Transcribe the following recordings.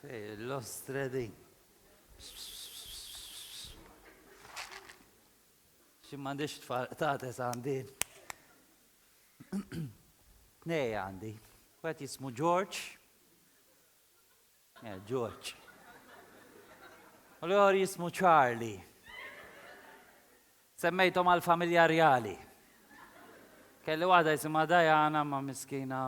L-ostre di. Xi m'għandix tfal tates għandi. Tnej għandi. Wieħed jismu George. Eh, George. U l-għor jismu Charlie. Semmejthom għall-familja rjali. Kelli waħda jisimha Diana imma miskina.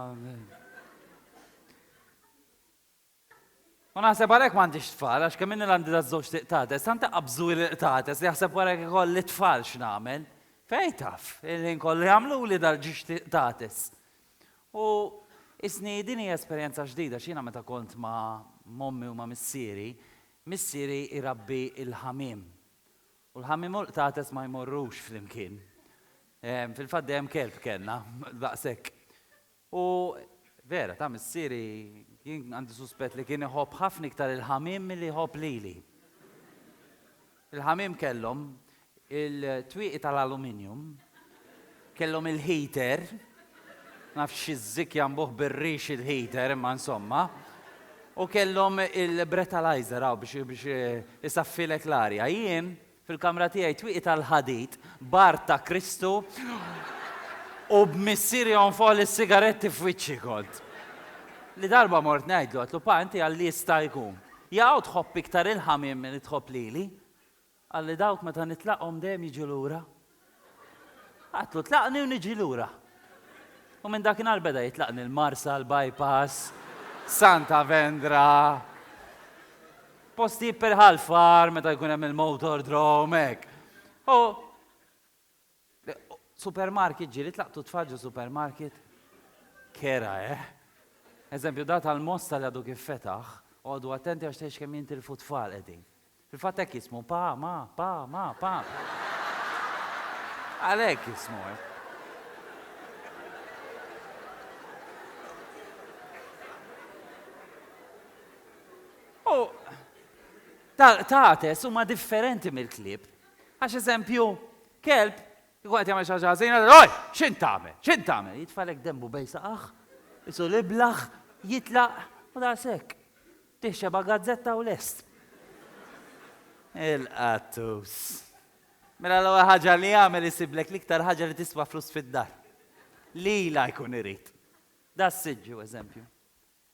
U naħseb għalhekk m'għandix tfal għax kemm inni l-għandi daż-żewġ tiqtates, tant iqabżu li l-qtates li jaħseb wara jekk ikolli tfal x'nagħmel. Fejn taf, il-ħin kollu jagħmluli dal-ġiex tiqtates. U isni din hija esperjenza ġdida għax jiena meta kont ma' m'ommi u ma' missieri, missieri jrabbi l-ħamiem. U l-ħammiem u l-qtates ma jmorrux flimkien. Fil-fatt dejjem kelb kellna, daqshekk. U vera, ta' missieri jien għandi suspett li kien iħobb ħafna iktar il-ħamiem milli jħobb lili. Il-ħamiem kellhom il-twieqi tal-aluminium, Kellhom il-heater, nafx xi żikja mbuh bir-rix il-heater imma insomma, u kellhom il-bretalizer hawn biex isaffilek l-arja. Jien fil-kamra tiegħi twieqi tal-ħadid b'art ta' Kristu u b'missieri jonfoħli s-sigaretti f'wiċċi kont. Li darba mort ngħidlu, għedtlu, Pa, inti għal jista' jkun, jew tħobb iktar il-ħamiem milli tħobb lili? Qal li dawk meta nitlaqhom dejjem jiġu lura. Għidtlu tlaqni u niġi lura. U minn dakinhar beda jitlaqni l-Marsa, l-Bypass, Santa Vendra, postijiet per Ħal Far meta jkun hemm il-Motordrome, hekk. U. Supermarket ġieli tlaqtu t-tfal ġo supermarket? Kera, eh? Eżempju, da tal-Mosta li għadu kif fetaħ, oqogħdu attenti għax tgħidx kemm jintilfu t-tfal qegħdin. Fil-fatt hekk jismu, pa, ma, pa, ma, pa. Għalhekk jismu hekk. U tal-qtates huma differenti mill-klieb. Għax eżempju, kelb kieku qed jagħmel xi ħaġa ħażina, Oj! X'int tagħmel? X'int tagħmel? Jitfagħlek denbu bejn saqajh, isul iblah, jitlaq, u daqshekk. Tih xebgħa gazzetta u lest. Il-qattus. Mela l-ewwel ħaġa li jagħmel isiblek l-iktar ħaġa li tiswa flus fid-dar. Lilha jkun irid. Das-siġġu eżempju.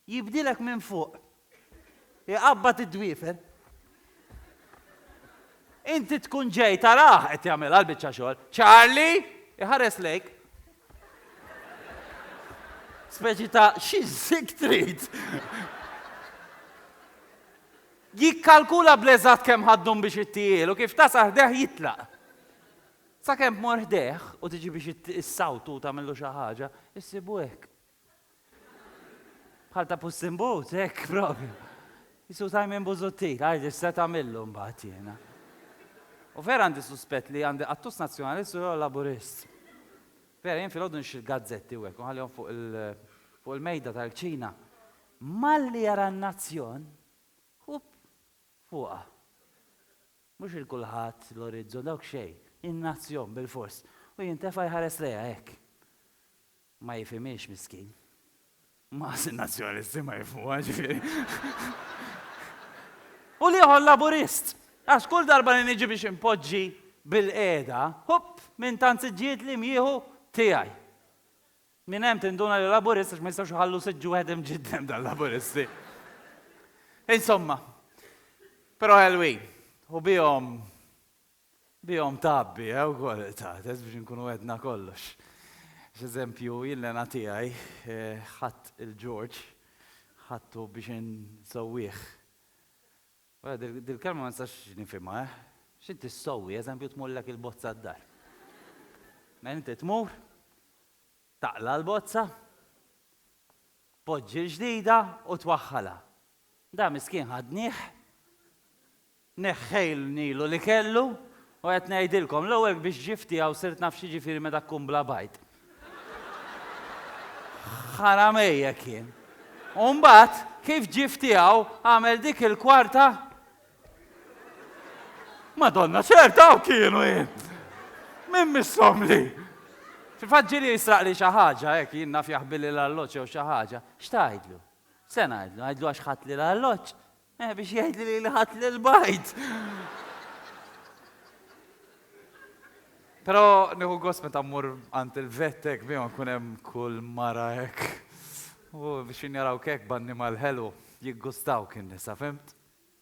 Jibdilek minn fuq. Iqabbad id-dwiefer. Inti tkun ġej tarah qed jagħmilha l-biċċa xogħol. Charlie! Iħares lejk. Speċi ta' xi żig trid? Jikkalkula bl-eżatt kemm ħa ddum biex ittihielu, kif tasal ħdejh jitlaq. Sakemm tmur ħdejh u tiġi biex issawtu u tagħmillu xi ħaġa, issibu hekk. Bħal ta' Puss in Boots, hekk propju. Jisu Simon Busuttil, għajdi x'se tagħmillu mbagħad jiena. U vera għandi suspett li għandi qattus nazzjonalist u jew laburist. Vera jien filgħodu nixtri l-gazzetti u hekk u nħallihom fuq il- fuq il-mejda tal-kċina. Malli jara n-nazzjon, ħup, fuqha. Mhux il kulħadd, l-orizzont, dawk xejn. In-nazzjon bilfors. U jintefa' jħares lejha hekk. Ma jifhimhiex miskin. Maqas in-Nazzjonalisti ma jifhmuha, ġifieri. U l-ieħor Laburist. Għax kull darba li niġi biex inpoġġi bilqiegħda, hupp, minn tant siġġijiet li jieħu tiegħi. Minn hemm tinduna li Laburist għax ma jistgħux iħallu siġġ wieħed imġiddem dal-Laburisti. Insomma. Però ħelwin. U bihom. Bihom tgħabbi, eh, ukoll tagħtes biex inkunu għedna kollox. X'eżempju jillena tiegħi, ħadt il-George, ħadtu biex insewwih. Wara dil-kelma ma nistax nifhimha, eh. X'inti ssewwi, eżempju tmurlek il-bozza d-dar. Mela inti tmur, taqla' l-bozza, tpoġġi l-ġdida u twaħħalha. Dan miskien ħadnieh. Neħħejlnilu li kellu, u qed ngħidilkom, l-ewwel biex ġie f'tiegħu sirt naf x'jiġifieri meta tkun bla bajd. Ħaramejjek jien. U mbagħad, kif ġie f'tiegħu, għamel dik il-kwarta. Madonna, ċert hawn kienu jien! Min missomli! Fil-fatt ġieli jisraqli xi ħaġa, hekk jien naf jaħbilli l-arloġġ jew xi ħaġa. X'tgħidlu? Se ngħidlu, ngħidlu għax ħadtli l-arloġġ? Eh, biex jgħid li li ħadd lil bajt. Pero nieħu gost meta mmur għand il-vettek bihom nkun hemm kull mara hekk. U biex jinjaraw kek b'annimal ħelu, jiggustaw kien nisa, fimt?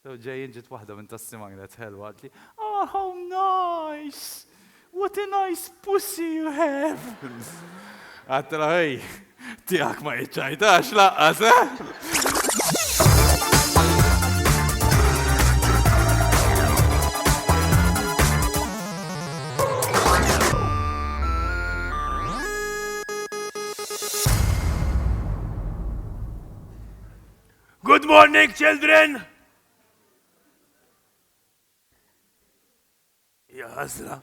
Ġejjin ġiet waħda minn tas-sima kienet ħelwa għatli, oh how nice! What a nice pussy you have! Għattilha hi, tiegħek ma jiċċajtax laqqas, eh? Good morning, children! Ja ħasra.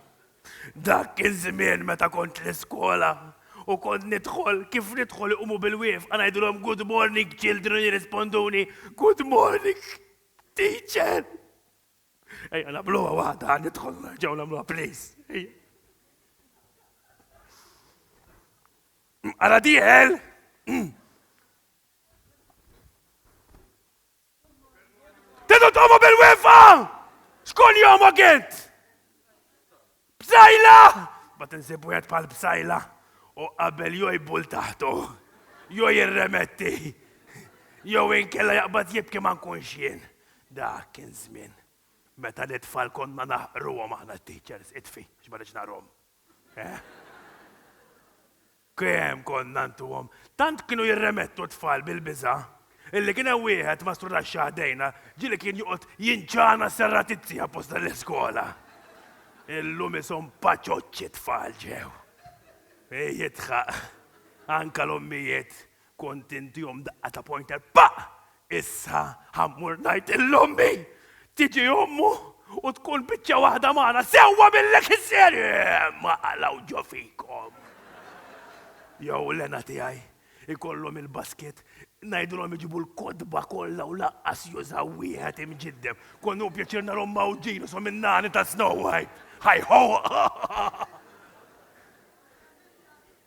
Dak kien żmien meta kont l-iskola u kont nidħol, kif nidħol iqumu bil-wieqfa ngħidulhom good morning children jirrisponduni good morning teacher. Ejja nagħmluha waħda ħa nidħol nerġgħu nagħmluha please. Ejja. Ara diħel! Tidu tqomu bil-wefa! Xkun jomu gint? Bsajla! Bat insib wieħed bħal bsajla u qabel jew jbull taħtu, jew jirremetti, jew inkella jaqbad jibki ma nkunx jien. Dak kien żmien meta lit-tfal konna naħqruhom aħna t-teachers, itfi, għax ma ridx nagħrhom. Eh? Kemm konna ntuhom! Tant kienu jirremettu t-tfal bil-biża', illi kien hemm wieħed mastru tax-xagħar dejna ġieli kien joqgħod jinċana s-serratizzi apposta l-iskola. Illum ishom paċoċċi t-tfal ġew. Hi jidħaq. Anke l-ommijiet Kont intihom daqqa ta' pointer paq! Issa ħa mmur ngħid lil ommi! Tiġi ommu u tkun biċċa waħda magħna, sewwa billek is-serje! Eeh! Ma qlgħu ġo fikom! Jew l-hena tiegħi, ikollhom il-basket, ngħidilhom iġibu l-kotba kollha u laqqas jużaw wieħed imġiddem. Kont nieħu pjaċir narhom mgħawġin ishom in-nani ta' Snow White! Hi-ho!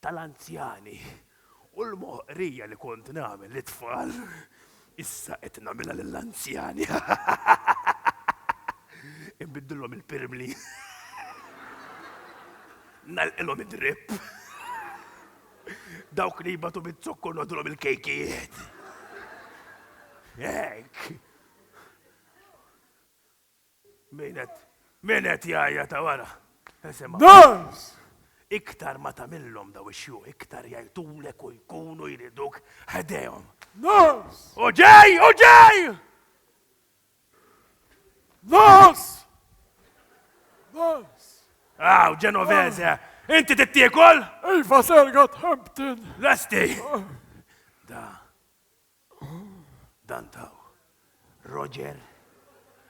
tal-anzjani u l-moħqrija li kont nagħmel lit-tfal, issa qed nagħmilha lill-anzjani. Inbiddilhom il-pirmli. Nagħlqilhom id-drip. Dawk li jbatu bit-zokkor nodulhom il-kejkijiet. Hekk. Min qed, min qed jgħajjat hawn ara? Isimgħu. Dawns! Iktar ma tagħmilhom dawn ix-xjuħ, iktar jgħajtulek u jkunu jriduk ħdejhom. Dawns! U ġej, u ġej! Dawns! Dawns! Aw, Ġenovese, inti tittiekol? Iva, sergat Hampton. Lesti! Da, Dan taw. Roger.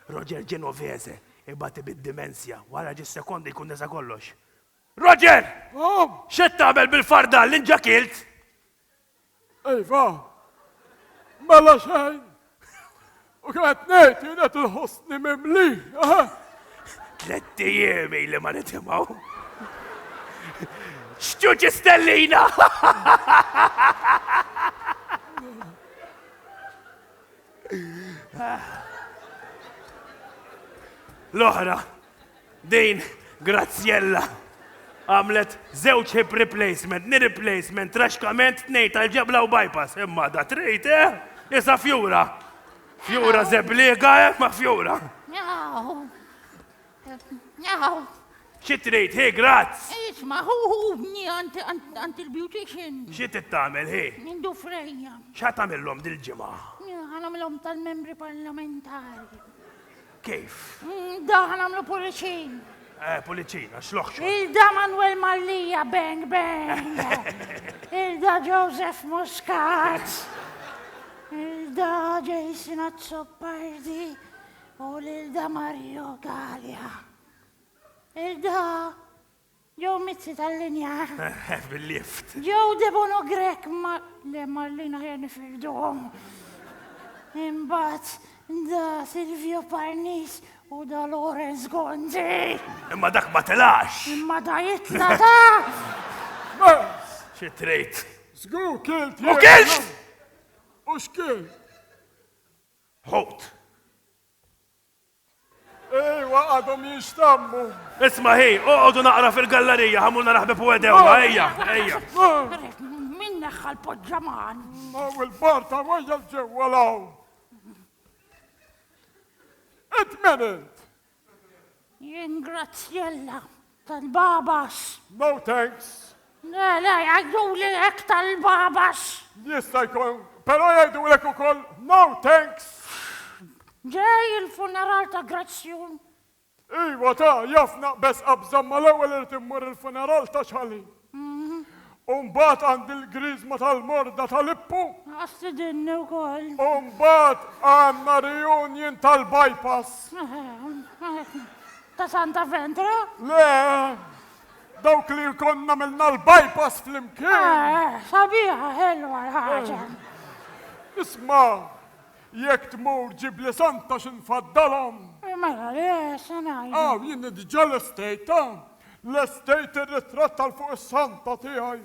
Roger Genovese ibati bid-dimensja. Wara ġis sekondi jkun nesa kollox. Roger! Mom! Xed tagħmel bil-fardal li nġakilt? Iva. Mela xejn. U kemm qed ngħid jien qed inħossni mimli. Tlett ijiem ili ma nitimgħu. X'ġuġi stellina! L-oħra, Din Graziella għamlet żewġ hip replacement, knee replacement, traxkament, tnejn tal-ġebla u bypass. Imma da trejt, eh? Isa fjura. Fjura zebliega, eh? Ma fjura. Xi trid, hi, grazz. Isma, hu hu bni għant il-beautician. Xi tittamel, hi? Mindu frejja. Xa tamillom dil-ġimgħa? Għanamilhom tal-membri parlamentari. Kif? Mm, da ħan għamlu puliċin. Eh, puliċin, għax loħxu. Il-da Manuel Mallija, bang, bang. Il-da Joseph Muscat. Il-da Jason Azzopardi. U l-da Mario Galia. Il-da Joe Mizzi tal-linja. Bil-lift. Joe Debono Grek ma. Le Marlina ħjar nifirduhom. Imbagħad da Silvio Parnis u da Lawrence Gonzi. Imma dak ma tilax. Imma da jitla da. Xi trejt? Żgur kilt. U kilt! U x'kilt? Ħut. Ejwa, għadhom jinxtammu. Isma' hi, oqogħdu naqra fil-gallarija, ħamulna raħbib u edewha, ejja, ejja. Min neħħa l-poġġaman? Ma u l-barta wajja l-ġewwa law. Int men int? Jien Grazzjella. Tal-Babas! No thanks! Le, le, jgħiduli hekk tal-Babas! Jista' jkun, però jgħidulek ukoll no thanks! Ġej il-funeral ta' Grazzjun! Iva, ta, jaf naqbeż qabża imma l-ewwel irid immur il-funeral ta' Ċħalin! U mbagħad għandi l-griżma tal-morda ta' Lippu. Għax tidinni wkoll. U mbagħad għandna reunion tal-bypass. Ta' Santa Ventra? Le, dawk li jkun għamilna l-bypass flimkien. Sabiħa ħelwa l-ħaġa. Isma', jekk tmur ġibli Santa xi nfaddalhom. Mela le, se ngħidu. Aw, jien diġà lestejtha. Lestejt ir-ritratt għal fuq is-santa tiegħi.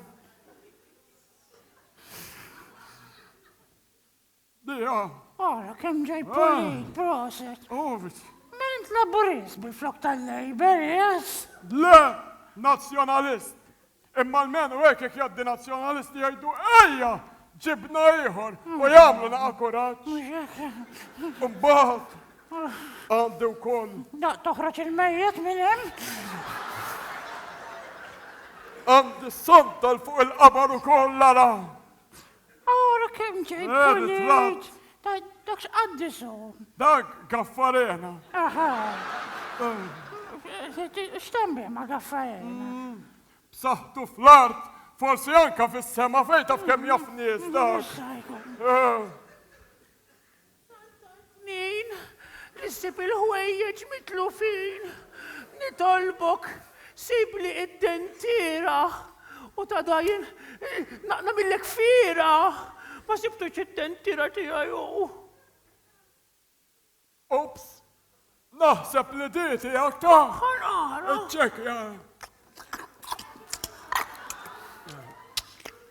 Biha. Ara kemm ġej pulit, proset. Ovit. Min int Laburist bil-flok tal-Labour, yes? Le, Nazzjonalist. Imma almenu hekk jekk jgħaddi Nazzjonalisti jgħidu ejja ġibna ieħor u jagħmlu naqa' kuraġġ. Imbagħad għandi wkoll. Daqt toħroġ il-mejjet minn hemm. Għandi s-sonta 'l fuq il-qabar ukoll ara. Ara kemm ġej pulit! Dak x'qaddis hu? Dak Gaffarena. Aha. X'temm bih ma' Gaffarena? Mm, b'saħħtu fl-art, forsi anka fis-sema fejn taf kemm jaf nies dak. Eh. Tant tard min li ssib il-ħwejjeġ mitlufin. Nitolbok sibli id-dentiera u ta' dajn nagħmillek fiera. Ma sibtux id-dentiera tiegħi u. Oops! Naħseb li di tiegħek ta. Aħħar ara. Iċċekkja.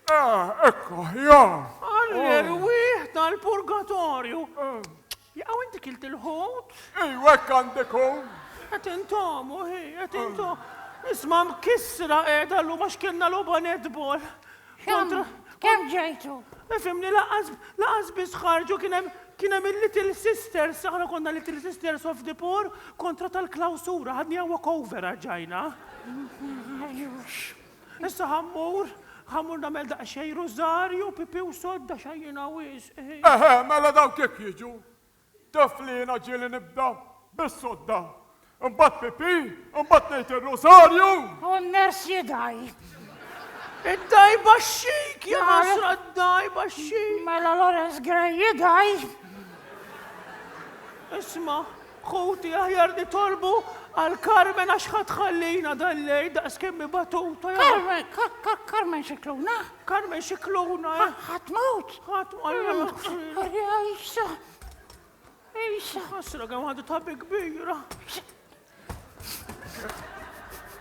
Eh, ekku, ja. Għall-erwieħ tal-purgatorju. Jaqaw inti kilt il-ħut? Iwek għandikun. Għet intom, uħi, għet intom. Isma mkissra edha l-lum għax kienna l-oba netbol. Kontra. Kemm ġejtu? Fimni laqqas laqqas biss ħarġu kien hemm kien hemm il-Little Sisters, aħna konna Little Sisters of the Poor kontra tal-klawsura, ħadniha walk over għax ġajna. Issa ħa mmur, ħa mmur nagħmel daqsxejn rużarju, pipì u sodda x'għajjina wisq. Eħe, mela dawk jekk jiġu. Tiflina ġieli nibda bis-sodda. Imbagħad pipì, imbagħad ngħid ir-Rużarju. U n-ners jidgħi. Id-dgħajba xxejk, ja ħasra d-dgħajba xxejk. Mela Lawrence Gray jidgħi. Isma', ħuti aħjar nitolbu għal Carmen għax ħa tħallina dal-lejl daqskemm hi batuta. Carmen, Carmen Scicluna? Carmen Scicluna, eh? Ħadd mewt! Ħadd ma jmut! Arja Isa! Isa! Ħasra kemm għadu ta' kbira!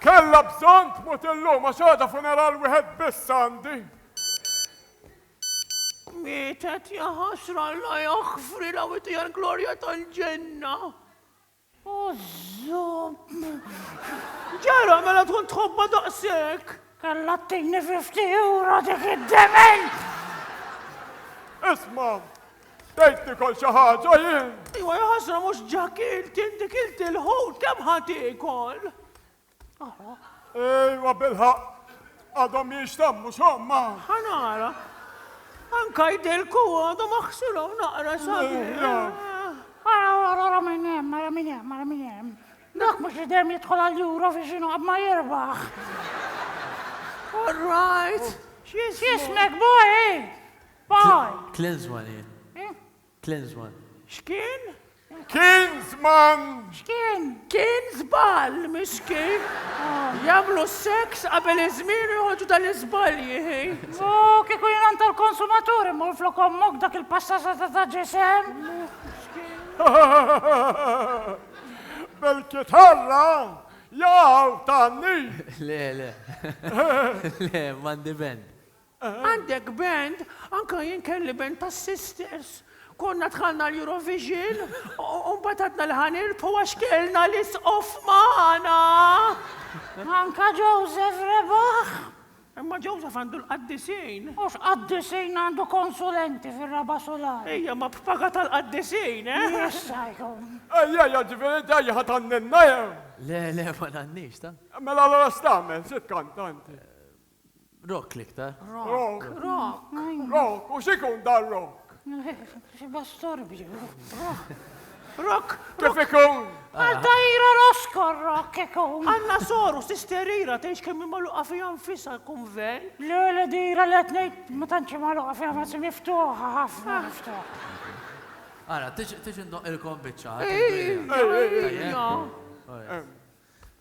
Kella bżonn tmut illum għax għada funeral wieħed biss għandi. Mietet jaħasra la jaħfri la witi għal-glorja tal-ġenna. Ġara, mela tkun tħobba daqshekk! Kellha ttini 50 euro dik id-dement! Isma', tgħid tikol xi ħaġa jien? Iwa, jaħasra mhux Ġakil, kien dik il-tilħut kemm ħa tiekol? Ejwa bilħaq, għadhom jinxtammu xomma. Ħanara. Anka jdilku għadhom aħsirhom naqra sabi. Ara, ara, ara minn hemm, ara minn hemm, ara minn hemm. Dak mhux li dejjem jidħol għal juro fi xinu ma jirbaħ. All right. X'jismek, boy? Boy. Klezwali. Klinsmann, X'kien? Kinsmann! X'kien? Kien żball, mhux kien. Jagħmlu s-seks qabel iż-żmien u joħorġu dan l-iżbalji, hi. U kieku jien għand tal-konsumatur immur flok ommok dak il-passata ta' ta' ġisem? Bil-kitarra jaqgħu tan-nid! Le, le. Le, m'għandi band. Għandek band? Anke jien kelli band tas-sisters. Konna dħalna l-Eurovision u mbagħad għadna li ħa nirbħu għax kellna l-Isqof magħna! Anke Joseph rebaħ! Imma Joseph għandu l-qaddisin! U x'qaddisin għandu konsulenti fir-raba' sular? Ejja, ma b'paga tal-qaddisin, eh? Jista' jkun! Ejja, ejja, ġifieri inti ejja ħa tgħanninna jew? Le, le, ma ngħannix, ta? Mela allura x'tagħmel? Xi tkanta inti? Rock l-iktar. Rock. Rock. Rock. U x'ikun dan rock? Xi bastorbju. Rock. Kif ikun? Għal tajra roskor rock ikun. Għanna soru sisterira tgħix kemm immaluqa fiha nfisha l-kunven. Le le dira li qed ngħid ma tantx immaluqa fiha ma miftuħa ħafna miftuħa. Ara, tix indoq il-kom biċċa.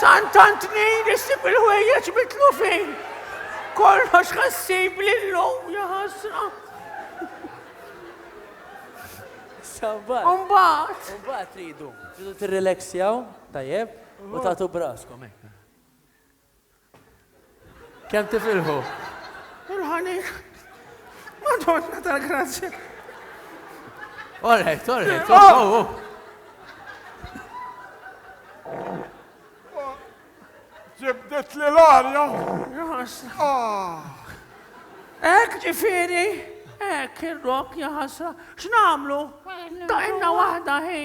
Santant nejn issib il-ħwejjeġ mitlufin. Kollox ħassib l-lum jaħasra. Sabbat. Umbat. Umbat tridu. Tridu t-relaxjaw, tajjeb, u tatu braskom. Eh. Kemm tifilħu? Il-ħanin. Madonna tal-grazzja. Alright, alright. Oh, oh, oh. Ġibdet li l-arja. Ah. Ek ġifiri, ek il-rok jaħasra. X'namlu? Daqinna wahda hi.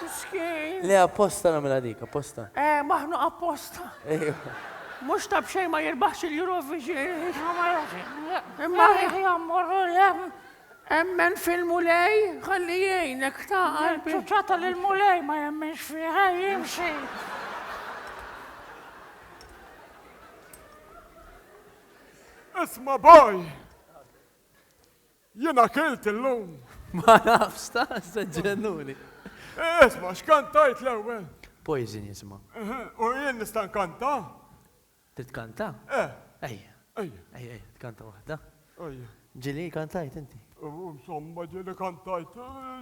Miskin. Le apposta nagħmilha dik, apposta. Eh, maħnuq apposta. Ejwa. Mux ta' bxej ma jirbaħx il-Eurovision. Imma jammur Emmen fil-mulej, għalli jgħinek ta' għalbi. ċuċata l-mulej ma jemmenx fiħa jimxi. Isma boj! Jien akilt illum. Ma nafx, tassew ġennuni. Isma', x'kantajt l-ewwel? Poison jisma'. Eħe, u jien nista' nkanta? Trid tkanta? Eh. Ejja. Ejja. Ejja, ejja, tkanta waħda. Ejja. Ġieli kantajt inti? Insomma, ġieli kantajt.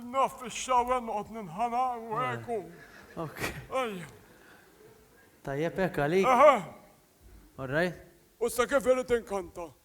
Naf fix-xawer noqgħod ninħana u hekk u. Ok. Ejja. Tajjeb hekk għalik? Eħe. All right. U issa kif irid inkanta?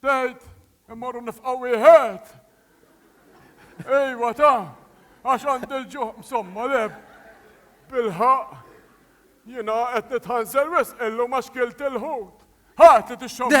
Tgħid, immorru nifqgħu wieħed? Ejwa ta, għax għandi l-ġuħ msomma le, bilħaqq, jiena qed nitħansel wisq illum għax kilt il-ħut. Ħa, trid ix-xommu?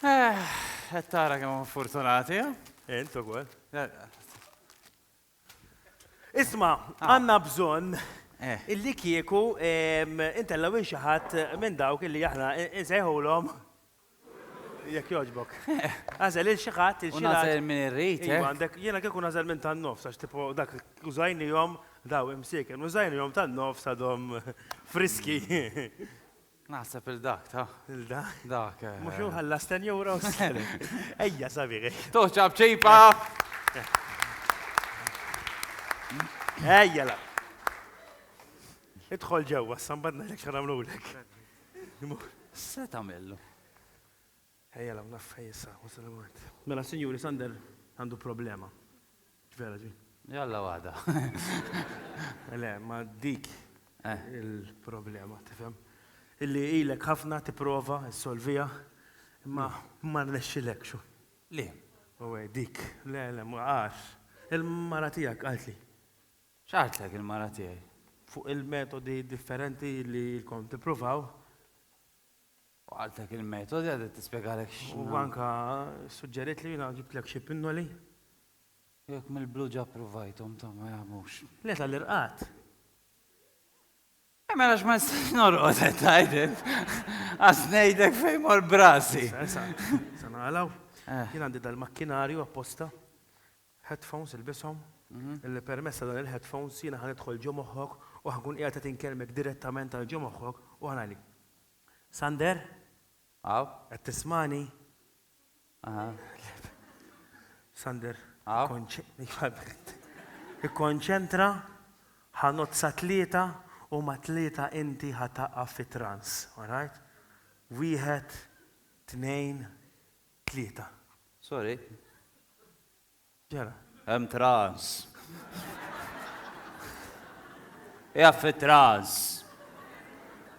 Qed tara kemm huma fortunati, ha? Int ukoll. Isma', għandna bżonn illi kieku intellgħu lil xi ħadd minn dawk illi aħna nsejħulhom Jekk jogħġbok. Agħżel lil xi ħadd, lil xi ħadd. U nagħżel min irrid. Iva, għandek, jiena kieku nagħżel minn tan-nofs għax tipo dak użajnihom daw imsieken, użajnihom tan-nofs għadhom friski. Naħseb il dak ta. Il da? Dak. Eh. Mhux hu ħallas 10 euros. Ejja sabiħ. Toċab ċejpa. Ejja la. Idħol ġewwa, sambadna lek xaramlulek. Se tagħmillu. Ejja 'l hawn naf fejn issa, waqt li mort. Mela sinjuri Sander għandu problema. Vera di? Jalla waħda. Le, ma dik il-problema, tifhem? Illi ilek ħafna tipprova ssolviha, imma ma rnexxilekx. Li? U hi dik. Le, le, ma għax. Il-mara tiegħek qaltli. X'għaltlek il-mara tiegħi? Fuq il-metodi differenti li ilkom tippruvaw. U qaltlek il-metodi għadha tispjegalek x'. U anke ssuġġeriet li jiena ġibtlek xi pinnoli. Jekk mill-blu ġa ppruvajthom ta' ma jagħmux. Le tal-irqad. E mela x'ma nistax norqod qed tgħid int? Qas ngħidlek fejn mort b'rasi. Issa, issa, se nagħlgħu. Jien għandi dal-makkinarju apposta, headphones ilbishom, illi permezz ta' dan il-headphones jiena ħa nidħol ġo moħħok u ħa nkun qiegħed qed inkellmek direttament għal ġo moħħok u ħa ngħidlek. Sander? Hawn. Qed tismagħni? Aha. Sander. Hawn. Ikkonċentra, ħa nozza tlieta u ma' tlieta inti ħa taqaf fi trans, all right? Wieħed, tnejn, tlieta. Sorry. X'ġara? Hemm traż. Hija fi traż.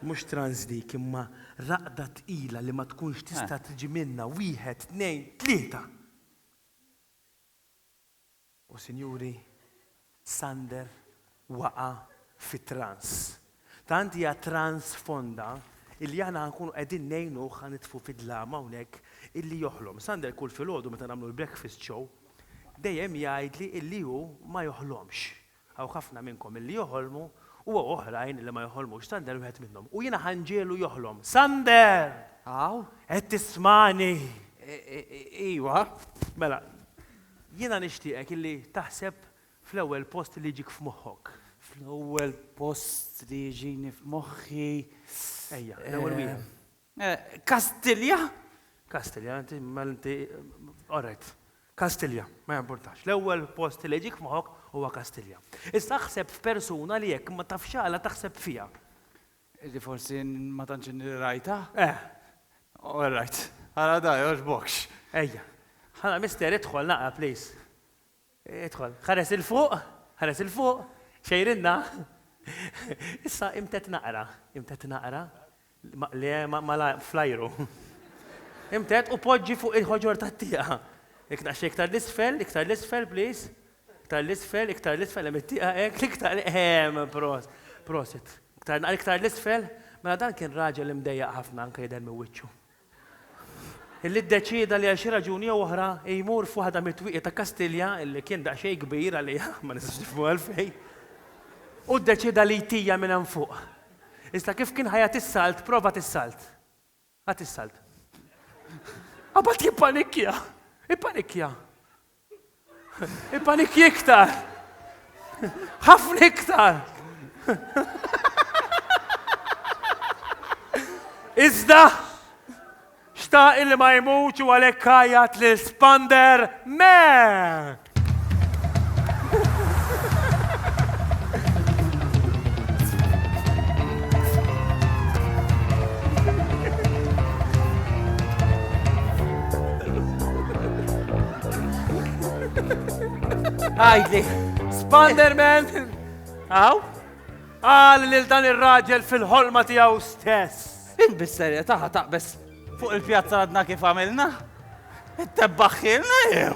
Mhux traż dik imma raqda tqila li ma tkunx tista' tiġi minnha. Wieħed, tnejn, tlieta! U sinjuri, Sander waqa' fi trans. Tant hija trans fonda illi aħna nkunu qegħdin ngħinuh ħa nitfu fid-dlama hawnhekk illi joħlom. Sander kull filgħodu meta nagħmlu l-breakfast show dejjem jgħidli illi hu ma joħlomx. Hawn ħafna minnkom illi joħolmu u hawn oħrajn illi ma joħolmux. Sander wieħed minnhom. U jiena ħa nġegħlu joħlom. Sander! Hawn? Qed tismagħni? Ejwa. Mela, Jiena nixtieqek illi taħseb fl-ewwel post li jiġik f'moħħok. Fl-ewwel post li jiġini f'moħħi. Ejja, l-ewwel wieħed. Kastilja? Kastilja, inti mela inti all right. Kastilja, ma jimpurtax. L-ewwel post li jiġik f'moħħok huwa Kastilja. Issa aħseb f'persuna li jekk ma tafx għala taħseb fiha. Illi forsi ma tantx inni rajtha? Eh. All right. Ara da, jogħġbokx. Ejja. Hala, Mister, idħol naqra, please. Idħol. Ħares 'il fuq, ħares 'il fuq, xejrinna. Issa imtedd naqra, imtedd naqra. Le, malajr, fl-ajru. Imtedd u poġġi fuq il-ħoġor tat-tieqa. Jekk daqsxejn iktar 'l isfel, iktar 'l isfel, please. Iktar l-isfel, iktar l-isfel, hemm it-tieqa hekk, iktar ehm, prost, prosit. Iktar naqra iktar l-isfel, mela dan kien raġel imdejjaq ħafna anke jidher minn wiċċu. Illi ddeċieda li għal xi raġuni jew oħra jmur f'waħda mit-twieqi ta' Kastilja, illi kien daqsxejn kbir għaliha, ma nistax nifhmu għalfejn, u ddeċieda li jtija minn hemm fuq. Iżda kif kien ħa jagħti s-salt, provat is-salt. Għad is-salt. Abad jippanikkja! Ippanikkja! Ippanikkja iktar! Ħafna iktar! Iżda, xtaq illi ma jmutx u għalhekk għajjat lil Spander, Me! Għajdli. Spanderman! Għaw? Għal lil dan ir-raġel fil-ħolma tiegħu stess. Inbis serja taħa taqbes Fuq il-pjazza għadna kif għamilna? It-tebbaħħilna jew?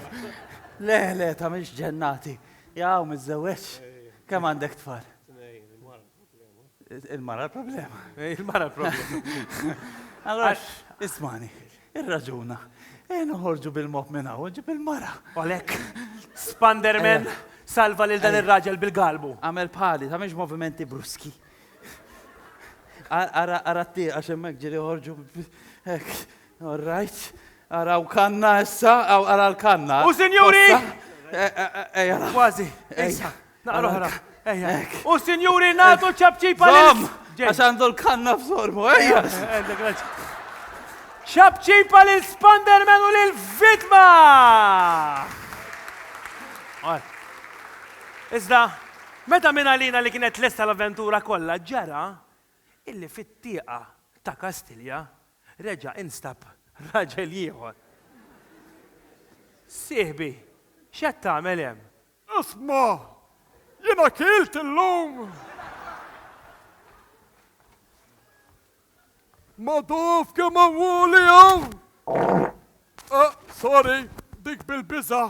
Le, le, ta' miex ġennati. Jaw, mizzewċ. Kem għandek tfal? Il-mara l-problema. Il-mara l-problema. Allora, ismani, il-raġuna. E noħorġu bil-mop minna, uġi bil-mara. Olek, Spanderman, salva lil dan il-raġel bil-galbu. Għamel pali, ta' miex movimenti bruski. Ara, ara t għax hemmhekk ġieli joħorġu hekk. All right. Ara u kanna issa, ara l-kanna. U sinjuri! Ejja, kważi. Ejja. Naqra oħra. Ejja. U sinjuri nagħtu ċabċipa lil. Għax għandu l-kanna f'sormu, ejja. ċabċipa lil Spanderman u lil Vitma! Iżda, Meta minn għalina li kienet lesta l-avventura kollha ġara illi fit-tieqa ta' Kastilja reġa' instab raġel ieħor. Sieħbi, x'qed tagħmel hemm? Isma', jiena kilt illum ma' daf kemm għawwali hawn! Sorry, dik bil-biża'.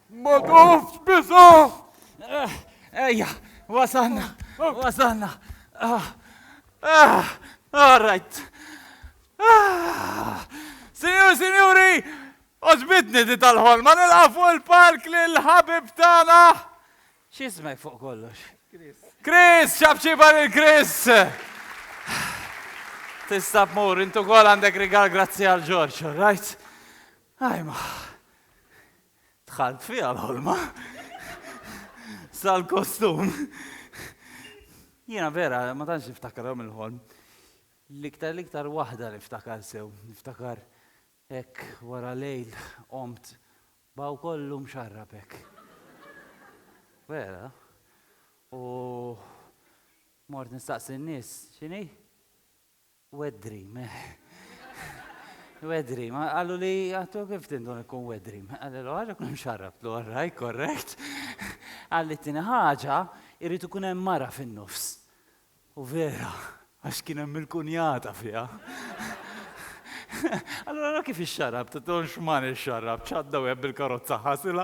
Ma tafx biża'! Ejja, wasalna, wasalna. All right. Sinjur, sinjuri, għoġbitni di tal-ħolma nilqa' fuq il-palk lil ħabib tagħna. X'ismek fuq kollox? Chris. Chris, xabċiba lil Chris. Tista' tmur, intu kol għandek rigal grazzi għal Ġorġ, all right? Ajma! Dħalt fiha l-ħolma. Sal-kostum. Jiena vera ma tantx niftakarhom il-ħolm. L-iktar l-iktar waħda niftakar sew. Niftakar hekk wara lejl qomt b'hawn kollu mxarrab hekk. Vera. U mort nistaqsi n-nies, x'inhi? Wet dream. Wet dream. Qaluli, għattu kif tindun ikun wet dream? Qallilu, għax ikun imxarrab. Tlu, all right, correct. Qalli t-tieni ħaġa, irrid ikun hemm mara fin-nofs. U vera, għax kien hemm il-kunjata fiha. Allura kif ixxarrab, titolx man ixxarrab, ċadda wieħed bil-karozza ħasilha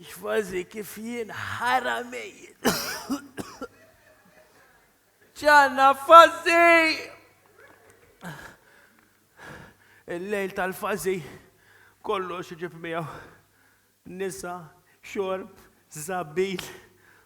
Kważi kif jien ħara mejjit. Ġanna fażi! Il-lejl tal-fażi kollox iġib miegħu. Nisa, xorb, żabbil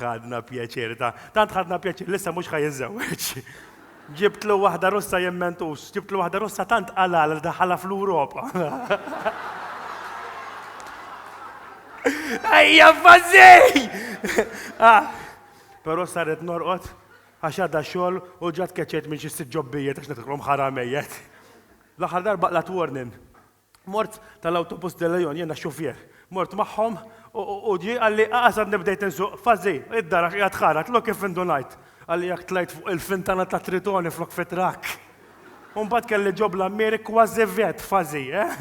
Ħadna pjaċir, ta, tant ħadna pjaċir li issa mhux ħa jiżżewweġ. Ġibtlu waħda Russa jemmentux, ġibtlu waħda Russa tant qalal li daħala fl-Ewropa. Ejja fażej! Ah, Però saret norqod għax għadha xogħol u ġat keċet minn xi sitt ġobbijiet għax nitħlhom ħaramejjet. L-aħħar darba qlat warning. Mort tal-Autobus de León, jiena xufier, mort magħhom u ġie qalli qaqas għadni bdejt insuq, Fazzi, id-dar għax qiegħed ħarat, lok kif indunajt! Qalli jekk tlajt fuq il-fintana tat-Tritone flok fit-trakk! U mbagħad kelli ġo bl-għammieri kważi vjett, Fazzi, eh!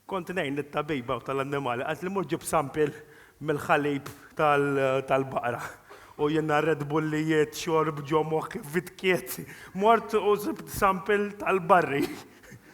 Kont ngħin lit-tabiba tal-annimali, qaltli mur ġib sampil mill-ħalib tal-baqra. U jiena red bullijiet, xorb ġo moħħi, vitkiet. Mort u sibt sampil tal-barri.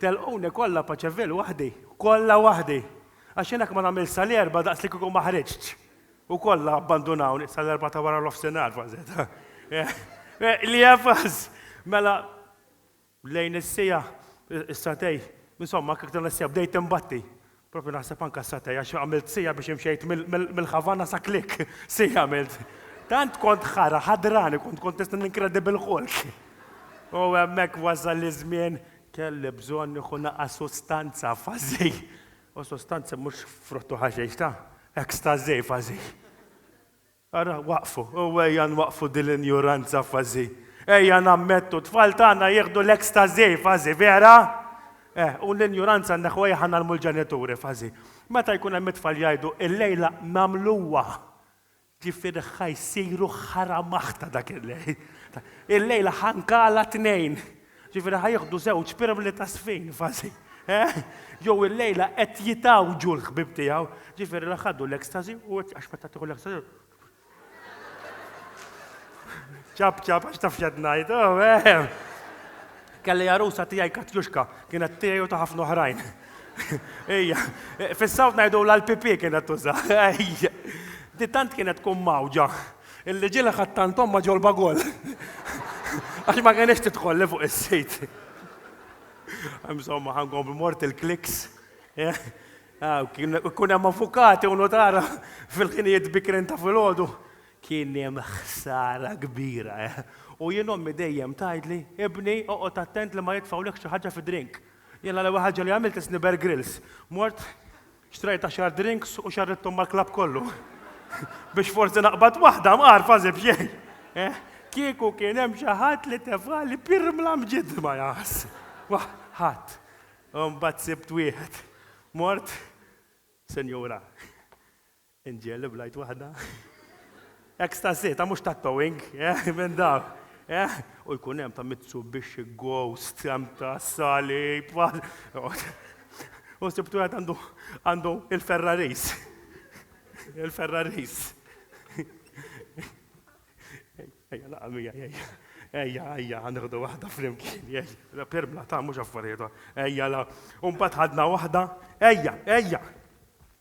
Telquni kollha Paċeville waħdi, kollha waħdi! Għax jien hekk ma nagħmilx sal-Erbgħa daqs li kieku ma ħriġtx! U kollha abbandunawni sal-Erbgħa ta' wara nofsinhar kważi. Li jefgħas! Mela lejn is-siegħa, is-sagħtej, insomma anke aktar minn is-siegħa bdejt inbatti. Propju naħseb anke għas-satej għax għamilt siegħa biex imxejt mill-Havana sa Klik. Siegħa għamilt. Tant kont ħara, ħadrani kont, kont nista' ninkredi bil-Hulk. U hemmhekk wasal iż-żmien, kelli bżonn nieħu naqas sustanza, fażi. U sustanzi mhux frott u ħaxix, ta? Ekstażi, fażi. Ara, waqqfu, u ejja nwaqqfu din l-injuranza fażi. Ejja nammettu, t-tfal tagħna jieħdu l-ekstażi fażi, vera? Eh, u l-injuranza nneħħuha jekk ħanagħlmu l-ġenituri fażi. Meta jkun hemm it-tfal jgħidu, illejla nagħmluha! Ġifieri ħa jsiru ħara maħta dak il-lejl. Illejla ħa nkala t-tnejn. Ġifieri ħa jieħdu żewġ pirmli ta' sfin fażi, eh? Jew illejla qed jitgħawġu l-ħbieb tiegħu. Ġifieri la ħadu l-ecstasy u għax meta tieħu l-ecstasy. Ċab ċab għax taf x'qed ngħid, oh, eh. Kelli għarusa tiegħi Katjuxka, kienet tiegħi u ta' ħafna oħrajn. Ejja, fis-sawt ngħidu l-PP kienet tuża. Ejja. Di tant kienet tkun mawġa. Illi ġie laħaq tant ommha ġol-bagoll. Għax ma kenitx tidħol li fuq is-sit. Insomma, ħa nkomplu mort il-kliks. Kun hemm avukati u notara fil-ħinijiet bikrin ta' filgħodu. Kien hemm ħsara kbira. U jien ommi dejjem tgħidli, Ibni, oqgħod attent li ma jitfgħulekx xi ħaġa fid-drink. Jien l-ewwel ħaġa li għamilt isni Bear Grylls. Mort Xtrajt għaxar drinks u xarridthom mal-klabb kollu. Biex forsi naqbad waħda mqarfa as if xejn. Eh? Kieku kien hemm xi ħadd li tefgħali pirmla mġiddma jaqas. Wah, ħadd. Imbagħad sibt wieħed. Mort, Sinjura. Inġiel li blajt waħda. Ecstasy, ta' mhux tattooing, eh, minn dawk, eh. U jkun hemm ta' Mitsubishi Ghost, hemm ta' salib, u sibt wieħed għandu għandu il-Ferraris. Il-Ferraris. Ejja, laqa' mija, ejja. Ejja, ejja, ħanħdu waħda flimkien, ejja. Permla, ta' mhux affarijiet, ejja la. U mbagħad ħadna waħda, ejja, ejja.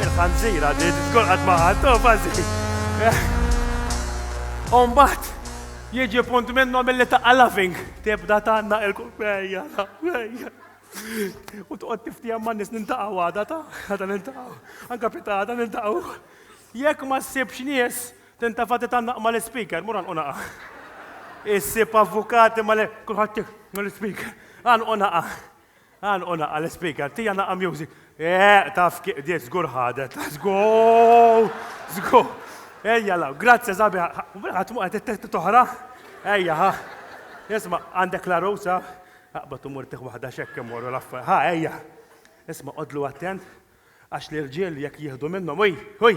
Il-ħanżir għaddi tiskolqat ma' ħadd, oh bażi. U mbagħad jiġi punt minnhom milli taqqa' loving. Tibda tanna il ejja, ejja. U toqgħod tiftijem ma' nies nintaqgħu għada ta' għada nintaqgħu. Anka fita għada nintaqgħu. Jekk ma ssibx nies, tintafa' titannaq mal-ispeaker, mur għanqu naqa'. Issib avukati mal kulħadd mal-ispeaker. Għanqu naqa'. Għanqu naqqa' l-ispeaker, tija naqqa' music. Eeq, taf kif qdiet żgur ħadet. Żgur! Żgur! Ejja law, grazzi sabi. Ħadd mu qed it-tett toħra? Ejja, ha. Isma' għandek la rosa? Aqbad u mur tieħ waħda x'hekk imorru l-affa. Ha, ejja. Isma' qodlu attent għax l-irġiel jekk jieħdu minnhom, uj, uj!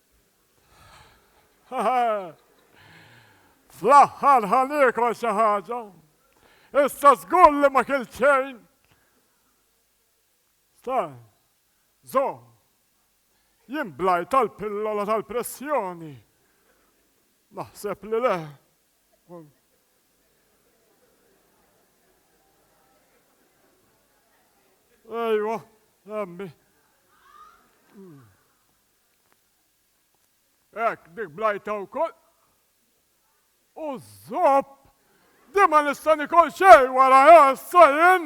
Fl-aħħar ħa niekol xi ħaġa. Issa żgur li ma kilt xejn. Sa, żomm. Jien blajt għall-pillola tal-pressjoni. Naħseb li le. Ejwa, emmi. Hekk, dik blajta wkoll. U żopp! Din ma nista' nikol xejn warajha issa jien!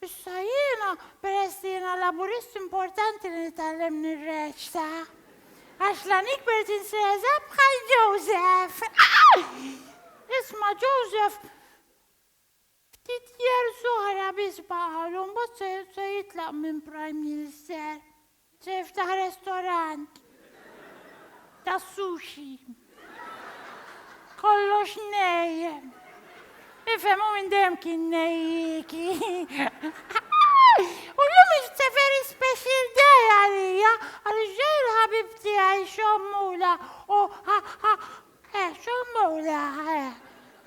Issa jiena, peress li jiena Laburist importanti li nitgħallem nirreċta. Għax la nikber tinsieżeb bħal Joseph. Isma' Joseph, ftit years oħra biss baqgħalu mbagħad se jitlaq minn Prime Minister. Tiftaħ restorant tas-sushi. Kollox nej. Ifhem hu minn dejjem kien nejjiki. U llum it's a very special day għalija għaliex ġej il-ħabib tiegħi Xommula u eh Xommula eh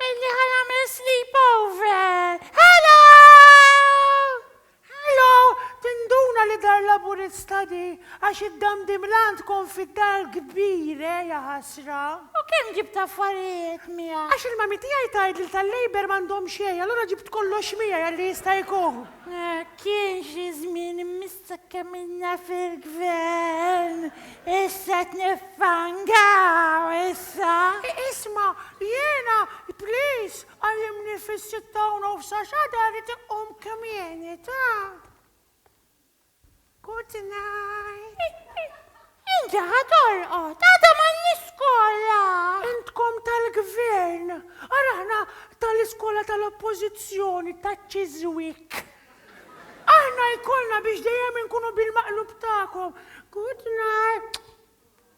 illi ħa nagħmel sleepover. Hello! Hello! Tinduna li dar Laburista di, għax id-damdim l-għan tkun fid-dar kbir, eh, ja ħasra! U kemm ġibt affarijiet miegħek? Għax il-mami tiegħi tgħid li tal-Labour m'għandhom xejn, allura ġibt kollox miegħi għalli jista' jkun. Kien xi żmien missa kemm ilna fil-gvern, issa qed niffangaw issa! Isma', jiena, please, Qajjimni fis-sitta u nofs għax għada rrid inqum kmieni, ta? Good night. Inti ħa torqod, għada m'għandniex skola! Intkom tal-Gvern, ara aħna tal-iskola tal-Oppożizzjoni, taċ-Chiswick. Aħna jkollna biex dejjem inkunu bil-maqlub tagħkom. Good night.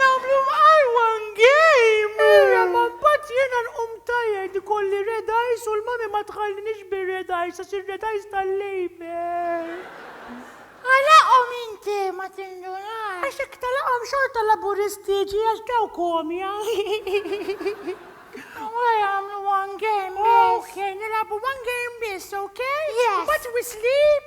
Namlu mqajwan game! Ejja, ma mbagħad jiena nqum tired, ikolli red eyes u l-mommy ma tħallinix bir-red eyes għax ir-red eyes tal-labour. Għalaqhom inti, ma tindunax. Għax jekk tagħlaqhom xorta Laburisti jiġi għax daw komja. Wara jagħmlu one game biss. Okay, nilagħbu one game biss, okay? Yes. But we sleep.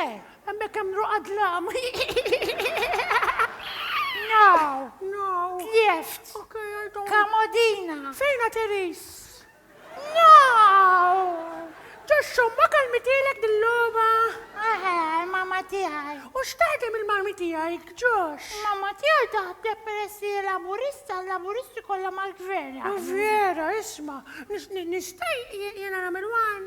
Eh, hemmhekk hemm Nru Adlam. Now. Now. Tlieft. Okay, I don't. Kamodina. Fejna Teris? Now. Ġoxxu, ma kalmitielek dil-logħba? Eħe, mama tiegħi. U x'taħdem il-marmi tiegħi, ġox? Mama tiegħi taħdem peressi laburista, laburisti kollha mal-gvern. Vera, isma, nista' jiena nagħmel wan?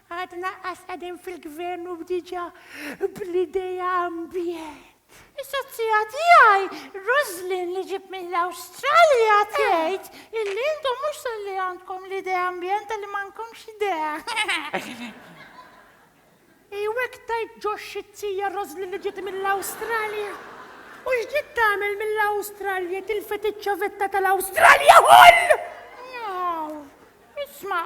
Għadna qas qegħdin fil-Gvern u diġà bl-idea ambjent. Is-sozzija tiegħi, Roslyn li ġieb mill-Awstralja tgħid illi intom mhux sar li għandkom l-idea ambjent talli m'għandkomx idea. Ejw hekk tgħid Josh it-tija Roslyn li ġiet mill-Awstralja. U x'ġiet tagħmel mill-Awstralja tilfet iċ-ċavetta tal-Awstralja ħoll! Aw, isma',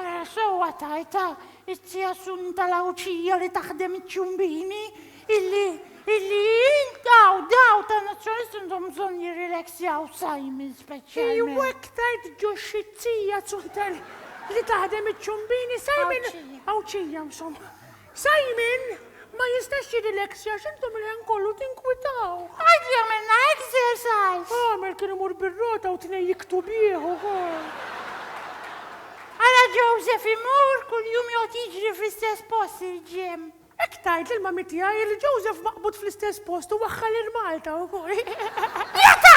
Ara sewwa tgħidha, it-Tija Sun tal-Għawdxija li taħdem iċ-ċumbini, illi, illi in, daw, daw ta' Nazzjonalisti għandhom bżonn jirrilexjaw Simon speċjalment. Iwa iktar tġuxx it-Tija Sun tal- li taħdem iċ-ċumbini, Simon Għawdxija, insomma. Simon, Ma jistax jirrileksja għax intom il-ħin kollu tinkwitaw. Għid jagħmilna exercise! Għamel kien imur bir-rota u tnej jiktu bih ukoll. Ara Joseph imur kuljum joqgħod jiġri fl-istess post il-gym. Hekk tgħid lill-mami tiegħi li Joseph maqbud fl-istess post u waħħal il-Malta ukoll. Jata!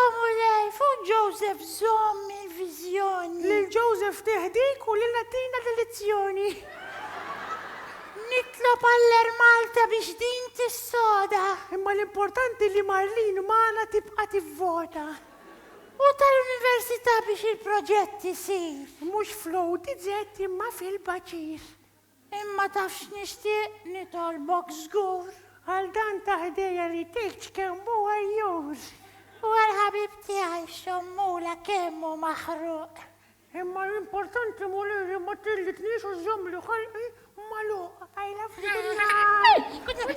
O Mulej, fuq Joseph żomm il-viżjoni. Lil Joseph tih dik u lilna tina l-elezzjoni. Nitlob għall-Air Malta biex din tissoda. Imma l-importanti li Marlene magħna tibqa' tivvota. U tal-Università biex il-proġett isir. Mhux fl-ODZ imma fil-Baċir. Imma taf x'nixtieq nitolbok żgur. Għal dan ta' ħdejja li tgħidx kemm hu għajjur. U għall-ħabib tiegħi x'għommula kemm hu maħruq. Imma l-importanti Mulej li ma tellitnix u żżommli ħalqi magħluq. I love you Gunnar! Good night!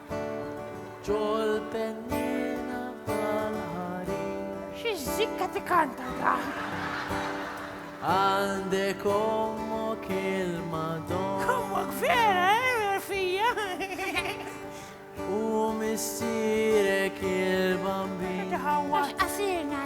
Ġol pennina tal-ħarir. Xi żikka tikanta da. Għandek ommok il-Madonna. Ommok vera, eh, fija. U missierek il-bambin. Għax qasirna,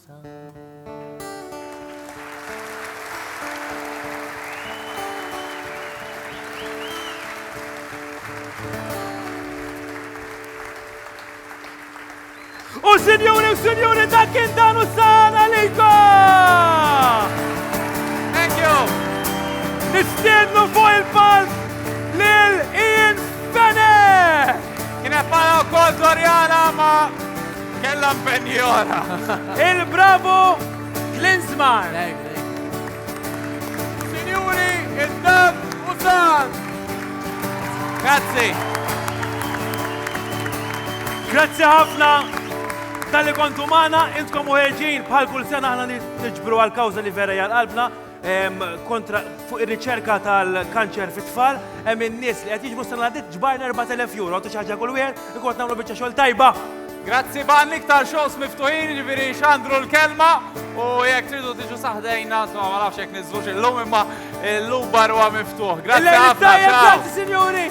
U sinjuri u sinjuri dak kien dan u sana lejko! Thank you! Nistiednu fuq il-palk lil Ian Bennett! Kien qed u kol Floriana ma' Kellha mpenji oħra. Il-Bravo Klinsmar. Sinjuri, id-dab u sar. Grazzi. Grazzi ħafna tal-li kontu maħna, intkom u ħerġin bħal kull sena ħna niġbru għal-kawza li vera jgħal-qalbna. kontra fuq ir-riċerka tal-kanċer fit-tfal, hemm in-nies li qed jiġbu sena dit ġbarna 4000 euro, tu xaġa kull wieħed, ikun nagħmlu biċċa xogħol tajba. Grazzi ban iktar shows miftuħin, ġifieri xandru l-kelma u jekk tridu tiġu saħdejna, so ma nafx jekk niżlux illum imma illum barwa miftuħ. Grazzi ħafna. Grazzi sinjuri.